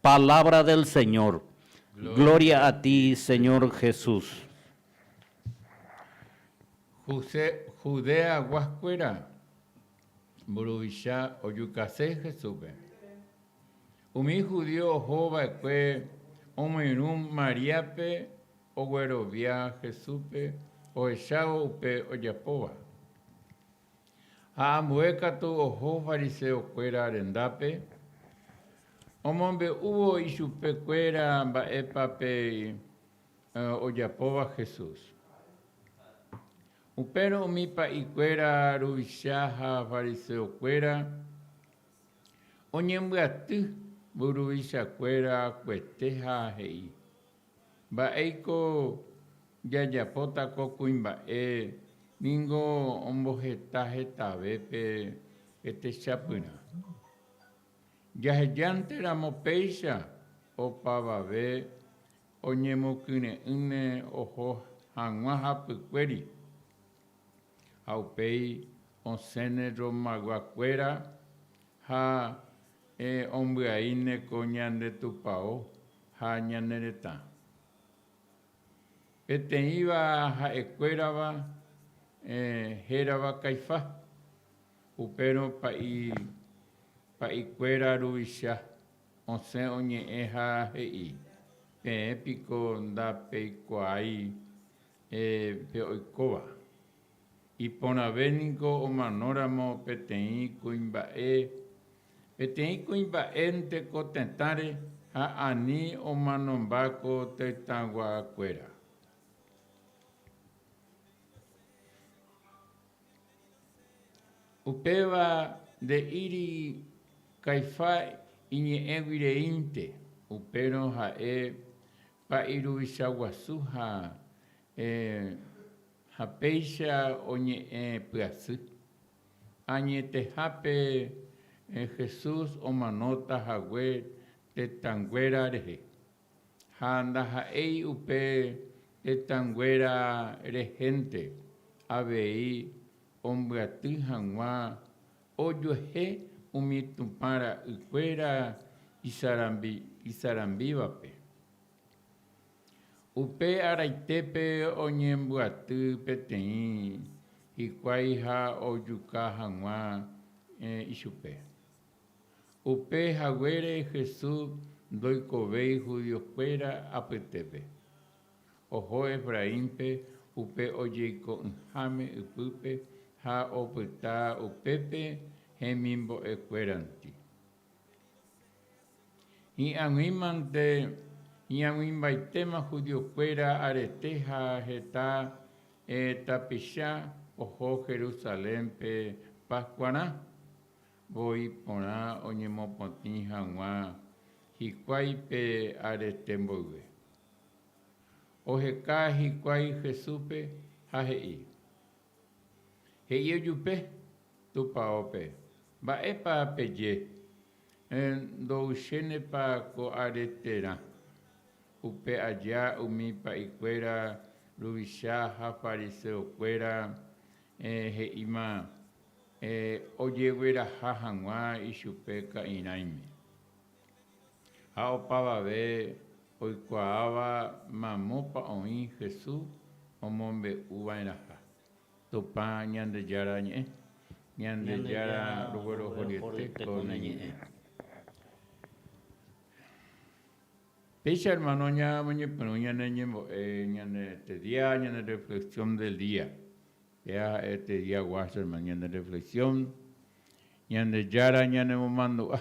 Palabra del Señor. Gloria a ti Señor Jesús. Judea guaskuéra mburuvicha ojukase Jesúspe. Umi judío oho va'ekue omoirũ Maríape oguerovia Jesúspe ohechávo upe ojapóva. Ha ambue katu oho fariseokuéra rendápe, omombe'úvo ichupekuéra mba'épa pe ojapóva Jesús. Upérõ umi pa'ikuéra ruvicha ha fariseokuéra oñembyaty mburuvichakuéra kuetéha he'i. Mba'éiko jajapóta ko kuimba'e? Ningo omboheta hetave pe techapyrã. Jahejánte ramo péicha, opavave oñemokyre'ỹne oho hag̃ua hapykuéri, ha upéi osẽne rrombagua kuéra ha ombyaíne ko ñande Tupao. Ha ñane retã. Peteĩva ha'ekuérava hérava Caifá, upérõ pa'i pa'ikuéra ruvicha, osẽ oñe'ẽ ha he'i, Peẽ piko ndapeikuaái pe oikóva. Iporãve niko omanóramo peteĩ kuimba'e, peteĩ kuimba'énte ko tetãre ha ani omanomba ko tetãguakuéra. Upéva nde'íri Caifa iñe'ẽguireínte, upérõ ha'e pa'i ruvichaguasu ha. Ha péicha oñe'ẽ pyasy. Añetehápe Jesús omanóta hague tetãnguéra rehe, ha ndaha'éi upe tetãnguéra rehénte avei ombyaty hag̃ua ojuehe umi Tupã ra'ykuéra isarambívape. Upe araitépe oñembyaty peteĩ hikuái ha ojuka hag̃ua ichupe. Upe haguére Jesús ndoikovéi judiokuéra apytépe. Oho Efraínpe upe ojeiko'ỹháme ypýpe ha opyta upépe hemimbo'ekuéranti. Hi'ag̃uímante, hi'ag̃uimbaitéma judiokuéra arete ha heta tapicha oho Jerusalénpe Paskuarã. Voi porã oñemopotĩ hag̃ua hikuái pe arete mboyve. Oheka hikuái Jesúspe ha he'i, He'i ojupe tupaópe, Mba'épa peje? Ndo'uisénepa ko are terã. Upe aja umi pa'ikuéra ruvicha ha fariseokuéra he'íma ojegueraha hag̃ua ichupe ka'irãime. Ha opavave oikuaáva mamópa oĩ Jesús omombe'uva'erãha Tupã Ñandejára ñe'ẽ, Ñandejára roguerohoryete ko ne ñe'ẽ. Péicha hermano ñamoñepyrũ ñane ñembo'e ñane tedia, ñane reflexión del día. Péa ha'e tedia guácho hermano, ñane reflexión Ñandejára ñanemomandu'a.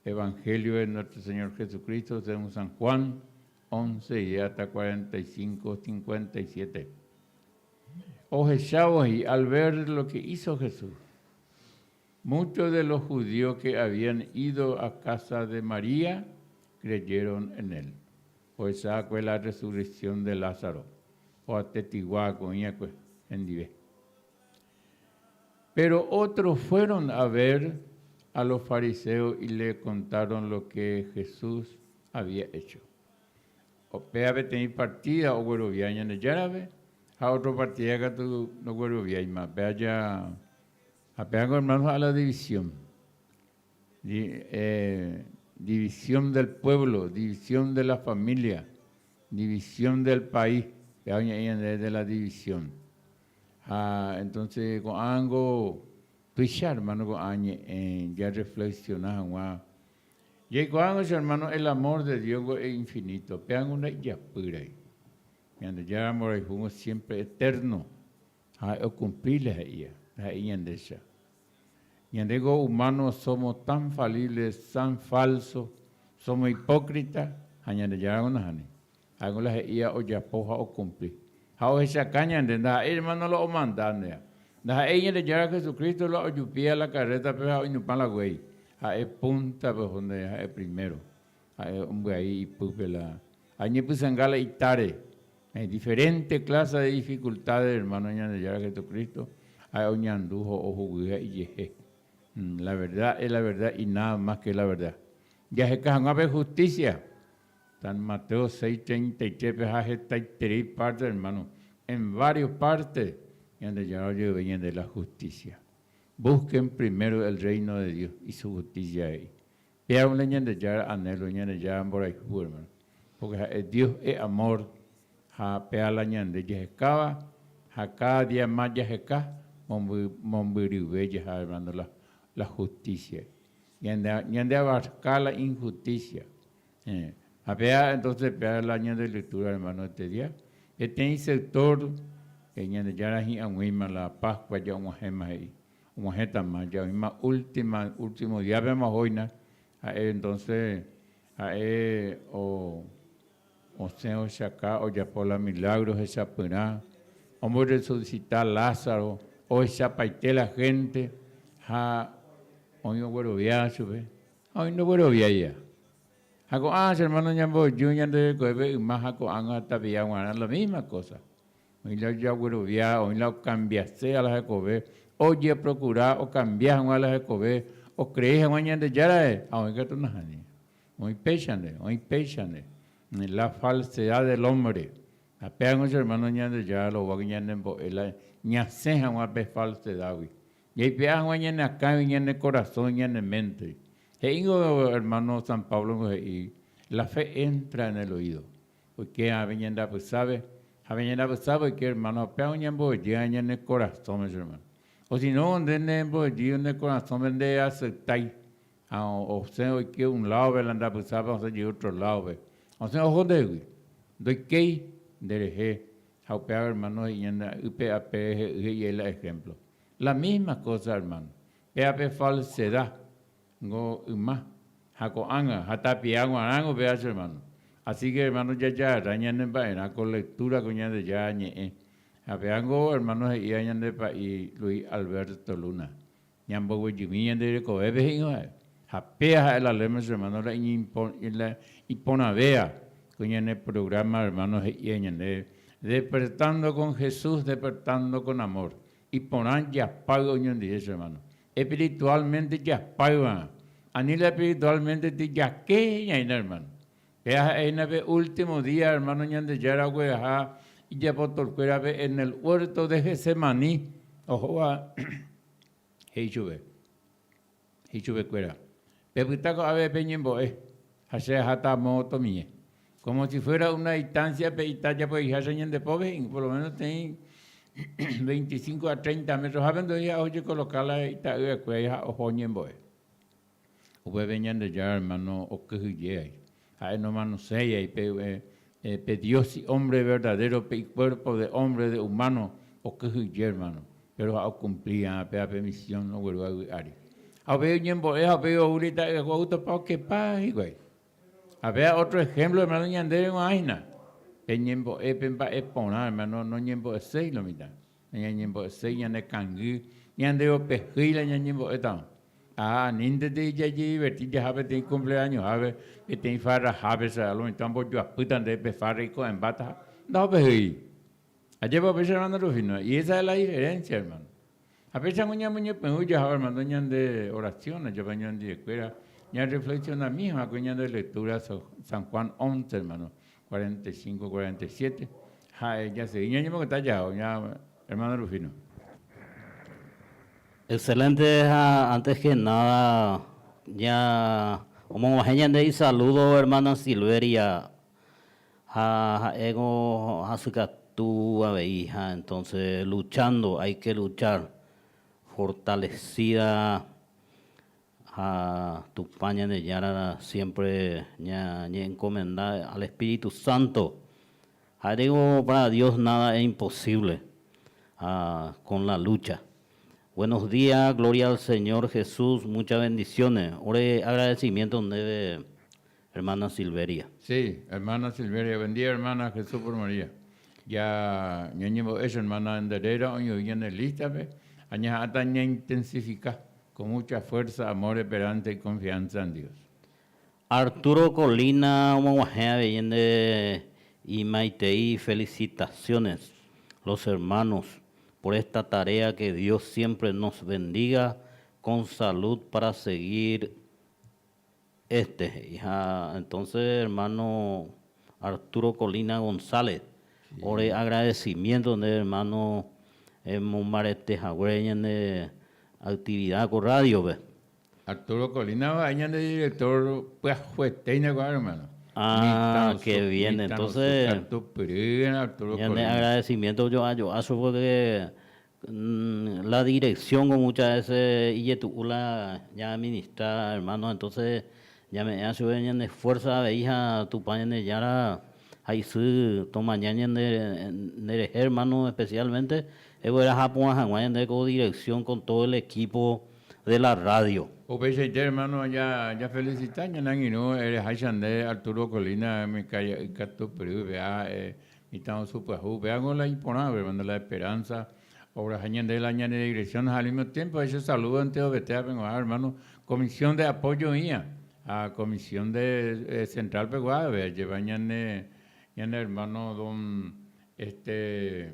Evangelio de nuestro Señor Jesucristo según San Juan, once y hasta cuarenta y cinco, cincuenta y siete. Ohechávo he'i al ver lo que hizo Jesús. Muchos de los judíos que habían ido a casa de María creyeron en él. Ohecha'akue la resurrección de Lázaro, oatestigua ko'ĩakue hendive. Péro ótro fuéron a ver a los fariseos y le kontáron lo ke Jesús había hecho. Upéva peteĩ partida oguerovia Ñandejárave ha ótro partida katu nogueroviáima. Péva ja, ha pévako hermano ja'a la división, di, e, división del pueblo, división de la familia, división del país, péva oñe'ẽ ñande de la división. Ha entonce ko'ãngo tuicha hermano ko'ã ñe'ẽ ja reflexiona hag̃ua. Jaikuaág̃a che hermano el amor de Dios-gua e infinito, péango nda'ijapýrai. Ñandejára mborayhúgui siempre eterno ha ha'e okumpli la he'íva, la he'i Ñandecha. Ñande ko humano somo tan falible, tan falso, somo hipócrita ha Ñandejára ko nahániri. Ha'éngo la he'íva ojapo ha okumpli. Ha ohechaka ñande, ndaha'éi ermáno la omanda ndéva. Ndaha'éi Ñandejára Jesucristo la ojupíva la karrétape ha oinupã la guéi. Ha'e púntape oho ndéve, ha'e primero. Ha'e ombyai ipýpe la añepysãnga la itáre. Hay diferente clase de dificultades, ermáno Ñandejára Jesucristo ha'e oñandu ha ohuguy ha ijehe. La verdad es la verdad y nada más que la verdad. Jaheka hag̃ua pe justicia. San Mateo seis treinta y tres pe ha hetaiterei párte, ermáno, en vário párte Ñandejára ojerovia ñande la hustísia. Vúsken primero el Reino de Dios y su justicia he'i. Péarõ la Ñandejára anélo, Ñandejára mborayhu, ermáno. Pórke ha'e Dios e'amór ha péa la ñande jahekáva ha káda día más jaheka mombyryve jaha, ermáno, la hustísiagui. Ñande abarka la inhustísia. Ha péa entóse péa la ñande lutúra ermáno etedia, peteĩ seutór Ñandejára hi'ag̃uíma la Páskua ja'og̃uahẽma he'i. Og̃uahẽtama, ja'oĩma última, último díapema ohóina, ha'e entóse ha'e o. Osẽ ohechaka ojapo la milágro hechapyrã, omborresusita Lázaro, ohechapaite la hénte ha oĩ oguerovia chupe ha oĩ ndogueroviáiva. Ha ko'ã, che ermáno, ñamboju ñande rekovépe yma ha ko'ág̃a ha tapicha g̃uarã la mísma kósa. Oĩ la ojaguerovia, oĩ la okambiase la hekove, ojeprokura okambia hag̃ua la hekove, okrei hag̃ua Ñandejárare ha oĩ katu nahániri. Oĩ péichante, oĩ péichante. La falsedad del hombre. Ha péako che hermano Ñandejára roguáke ñanembo'e la ñasẽ haguã pe falsedad-gui. Jaipe'a haguã ñane akãgui, ñane korasõgui, ñane mente-gui. He'íngo hermano San Pablo-niko he'i, La fe entra en el oído. Oike ave ñande apysápe, ha pe ñande apysápe oike hermano, ha péako ñamboyéva ñane korasõme che hermano. Osinóngo nde nembojy ne korasõme ndeaceptái, Ha osẽ oike un ládope la ndapysápe osẽ jey ótro ládope. Osẽ oho ndehegui. Ndoikéi nderehe. Ha upéva ermáno he'i ñane a'ýpe ha pe rehe'ỹ he'i aíla ehémplo. La mísma kósa, ermáno. Péva pe falseda ningo yma. Ha ko'ág̃a, ha tapia g̃uarãgui upéva che ermáno. Asíke, ermáno, jajahasa ñanemba'erã ko lektúra ko Ñandejára Ñe'ẽ. Ha péva ningo ermáno he'íva ñande pa'i Luis Alberto Luna. Ñamboguejymi ñande rekovépe he'ỹvae, ha péa ha'e la ley musulmano la iporãvéva ko ñane programa hermano he'íva ñande Despertando con Jesús, Despertando con Amor, iporã japáy oñondive che hermano, espiritualmente japáyva, ani la espiritualmente ti jake ñaína hermano, Péa ha'éhina pe último día hermano Ñandejára ogueraha ijapotorkuérape en el huerto de Getsemaní ohóva he'i chupe, he'i chupekuéra, Pepyta ko'ápe pe ñembo'e ha che aháta amo tomie. Como si fuera una distancia pe ita japo'iháicha ñande pópe he'íngo, por lo menos teĩ veinticinco a treinta metros hápe ndo'íha ojekoloka la ita'yrakuéra ha oho ñembo'e. Upépe Ñandejára ermáno okyhyjéi. Ha'e nomanoséiai pe dios si ómbre verdadéro pe ikuérpo de ómbre de umáno okyhyje ermáno, péro ha okumpli va'erã péva pe misión nogueru'águi ári. Ha upéi oñembo'e ha upéi ou rei ta'yraku'aútapa okepa hikuái. Ha péva ótro ehémplo ermáno ñandéve g̃uarã hína, pe ñembo'e pe mba'e porã ermáno noñembo'eséi lo mitã. Nañañembo'eséi ñane kangy, ñande upe hýi la ñañembo'étava. Ha aníntete jajediverti jaha peteĩ kumpleañohápe, peteĩ farrahápe, che álgo mitã ombojoapýta nde pe farra iko'ẽmbáta ha ndaho pe hýi. Ajépa upéicha hermano Rufino, y esa es la diferencia, hermano. Ha péichango ñamoñepyrũ jaháva, hermano, ñande oración, ajapa ñanderuekuéra ñarreflexionami hag̃uáicha ñande lectura San Juan once, hermano, Cuarenta y cinco, cuarenta y siete, ha'e jasegi ñañemongeta jahao ña hermano Rufino. Excelente ha antes que nada ña omoguahẽ ñande isaludo hermana Silveria ha ha'e ko hasykatu avei ha entonce luchando hay que luchar fortalecida Ha Tupã Ñandejára siémpre ñañe'enkomenda al espíritu sánto. Ha'e reko pára Dios náda es imposívle ha kon la lúcha. Buenos día, glória al Señor Jesús, mucha bendisiónes. Ore agradesimiénto ndéve Hermana Silveria. Sí, hermana Silveria, buen día hermana, Jesús por María. Ya ñañembo'e che hermana Enderera oñe'õi ñane lista-pe, ha ñaha'ãta ñaintensifica con mucha fuerza, amor, esperanza y confianza en Dios. Arturo Colina omoguahẽ avei nde imaitei felicitaciones los hermanos por esta tarea que Dios siempre nos bendiga con salud para seguir Este he'i ha entonce hermano Arturo Colina González ore agradecimiento nde hermano emombarete haguére ñande actividad ko radio-pe. Arturo Colina va'e ñande director pyahuetéina ko'ã hermano. Ah, que bien entonce ñande agradecimiento jo'a jo'áso porque La dirección-ko muchas veces ijetu'u la ñaaministra hermano, entonces ñame'ẽha chupe ñane fuerza avei ha Tupã Ñandejára ha isy tomaña ñande nderehe hermano especialmente egueraha apu'ã hag̃ua ñande ko dirección con todo el equipo de la radio. Upeichaite hermano jafelicita ñane angirũ ereháicha nde Arturo Colina umi kaia'y katu pyrýpe ha Mitã osu pyahu, upévango la iporã, Observando la Esperanza, obra ha ñande la ñane digresión ha al mismo tiempo ha che saludo ante Ovete ápe g̃uarã hermano Comisión de Apoyo oĩva ha Comisión de Central pegua avei ajeva ñane hermano don este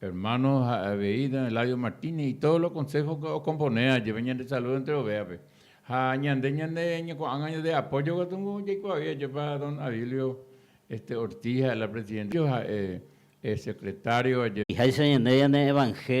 Hermano ha avei don Eladio Martínez y todos los consejos que ocompone ajeve ñande saludo entre ovejape. Ha ñande ñande ñeko'ágã ñande apoyo katungu jaikuaavi ajepa don Adilio este Ortiz ha'e la presidente, ha'e secretario ajeve. Ijaýicha ñande ñane evangelio.